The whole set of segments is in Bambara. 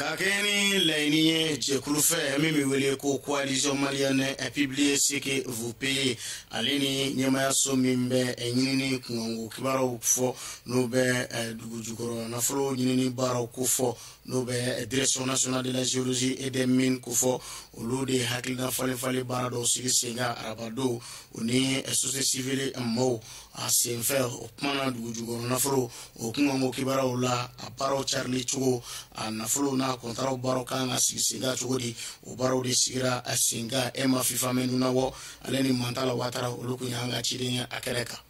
ka kɛ ni laɲini ye jɛkulu fɛ min bɛ wele ko coalition malienne publiez ce que vous payez ale ni ɲɛmaayaso min bɛ ɲinini kunkanko kibaruyaw fɔ n'o bɛ dugu jukɔrɔ nafolo ɲinini baaraw kofɔ n'o bɛ direction nationale de la géologie et des mines kofɔ olu de hakilina falenfalen baara dɔw sigi sen kan arabadon o ni société civile mɔgɔw a senfɛ o kumana dugu jukɔrɔ nafolo o kunkanko kibaruyaw la a baaraw carili cogo a nafolo n'a kɔntaraw baaraw ka kan ka sigi sen kan cogo di o baaraw de sigira a sen kan ema fifamɛ nunabɔ ale ni mantala watara olu kun y'an ka ciden ye a kɛnɛ kan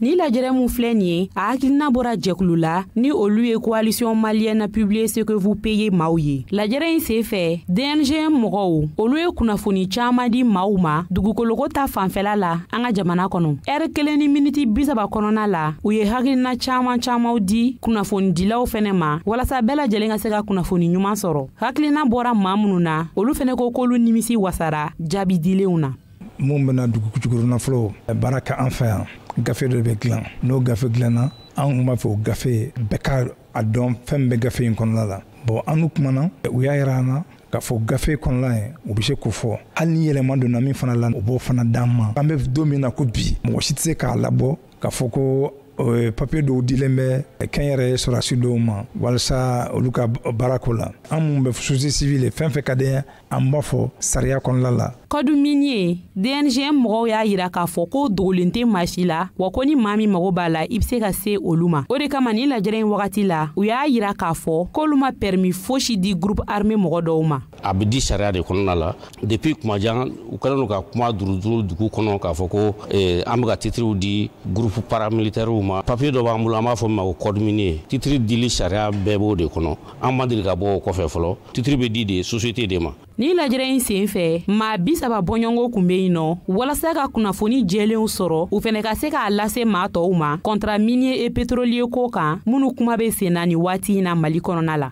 ni lajɛrɛ min filɛ nin ye a hakilina bɔra jɛkulu la ni olu ye coalition malienne publiez ce que vous payez maaw ye lajɛrɛ in sen fɛ dngm mɔgɔw olu ye kunnafoni caaman di maaw ma dugukoloko ta fanfɛla la an ka jamana kɔnɔ ɛri kelen ni miniti bisaba kɔnɔna la u ye hakilina caaman caamanw di kunnafonidilaw fɛnɛ ma walasa bɛɛ lajɛlen ka se ka kunnafoni ɲuman sɔrɔ hakilina bɔra maa minnu na olu fɛnɛ ko k'olu nimisi wasara jaabi dilenw na minnu bena dugu jukɔrɔ nafolow baara kɛ an fɛ yan gafe dɔ be dilan n'o gafe dilanna an b'a fɛ o gafe bɛɛ ka a dɔn fɛn bɛ gafe in kɔnɔla la bon an n'u kumana u y'a yira an na k'a fɔ gafe kɔnɔla ye u be se k'o fɔ hali ni yɛlɛma donna min fana la u b'o fana d'an ma an be don min na ko bi mɔgɔ si tɛ se k'a labɔ k'a fɔ ko euh, papiye dɔw dilen bɛ kɛnyɛrɛye sɔrɔdasi dɔw ma walasa olu ka baarako la an minnu bɛ société civile fan fɛ ka denya an b'a fɔ sariya kɔnɔla la code minier dngm mɔgɔw y'a yira k'a fɔ ko dogolen tɛ maa si la wa ko ni maa min mago b'a la i be se ka se olu ma o de kama ni lajɛrɛ in wagati la u y'a yira k'a fɔ k'olu ma pɛrimi fosi di groupe armé mɔgɔ dɔw ma a be di sariya de kɔnɔna la depuis kuma jan u kɛlen don ka kuma duruduru dugu kɔnɔ k'a fɔ ko eh, an be ka titiriw di gurupu paramilitɛriw ma papiye dɔ b'an bolo an b'a fɔ min ma ko code minier titiri dili sariya bɛɛ b'o de kɔnɔ an ma deli ka bɔ o kɔfɛ fɔlɔ titiri bɛ di de sosiyete de ma ni lajɛrɛ in sen fɛ maa bisaba bɔɲɔgɔnko kun be yen nɔ walasa ka kunnafoni jɛlenw sɔrɔ u fɛnɛ ka se k'a lase maa tɔɔw ma contrat minier et pétrolier ko kan minnu kuma be senna ni waati na mali kɔnɔna la